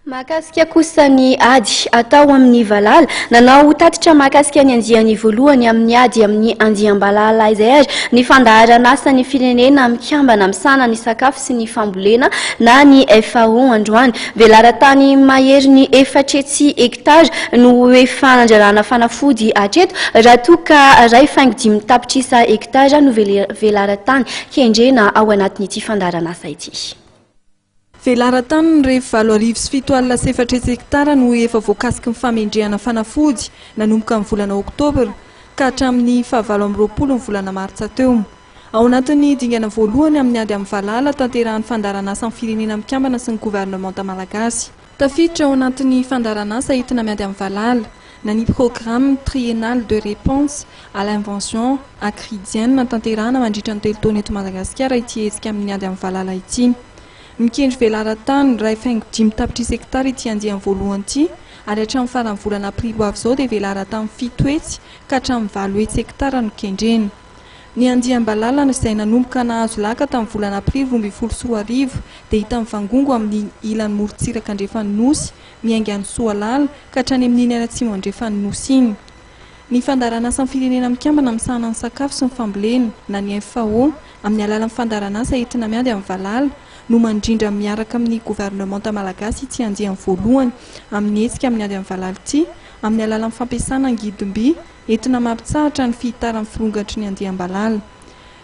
Mahakasika kosa ny ady atao amin'ny valala, nanao tatitra mahakasika ny andiany voalohany amin'ny ady amin'ny andiam-balala izay ary ny fandaharan'asan'ny firenena mikambana misahana ny sakafo sy ny fambolena na ny FAO androany. Velaran-tany maherin'ny efatretsy hektara no ho efa nandrarana fanafody hatreto raha toa ka iray faingo dimy tapitrisa hektara no velaran-tany kendrena ao anatin'ity fandaharan'asa ity. Velaran-tany ny ref valo arivo sy fito alina sy efatra hetsy hektara no efa voakasiky ny famendrehana fanafody nanomboka ny volana oktobra ka hatramin'ny fahavalo amby roapolo ny volana martsa teo. Ao anatin'ny dingana voalohany amin'ny ady amin'ny valala tanterahin'ny fandaharanasan'ny Firenena Mikambana sy ny governemanta malagasy, Tafiditra ao anatin'ny fandaharanasa entina miady amin'ny valala, na ny Programme Triennal de Réponse à l'Invention Akridienne natanterahana mandritra ny telo taona eto Madagasikara ity hetsika amin'ny ady amin'ny valala ity. Mikendry velaran-tany iray faingo dimy tapitrisa hektara ity andiany voalohany ity ary hatramin'ny faran'ny volana aprily ho avy izao dia velaran-tany fito hetsy ka hatramin'ny valo hetsy hektara no kendrena. Ny andiam-balalana izay nanomboka nahazo laka tamin'ny volana aprily roa ambin'ny folo sy roa arivo dia hita mivangongo amin'ny ilany morontsiraka andrefan'ny Nosy miainga an'i Soalala ka hatrany amin'iny any atsimo andrefan'ny Nosy iny. Ny Fandaharanasan'ny Firenena Mikambana Misahana ny Sakafo sy ny Fambolena na ny FAO amin'ny alalan'ny fandaharanasa entina miady amin'ny valala no mandrindra miaraka amin'ny governemanta malagasy ity andiany voalohany amin'ny hetsika miady amin'ny valala ity amin'ny alalan'ny fampiasana angidim-by Etona mampitsahatra ny fihitaran'ny firongatry ny andiam-balala.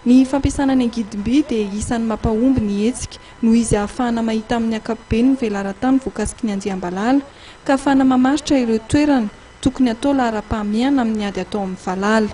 Ny fampiasana ny angidim-by dia isan'ny mampahomby ny hetsika noho izy ahafahana mahita amin'ny ankapobeny ny velaran-tany voakasiky ny andiam-balala ka ahafahana mamaritra ireo toerana tokony hatao laharam-pahamehana amin'ny ady atao amin'ny valala.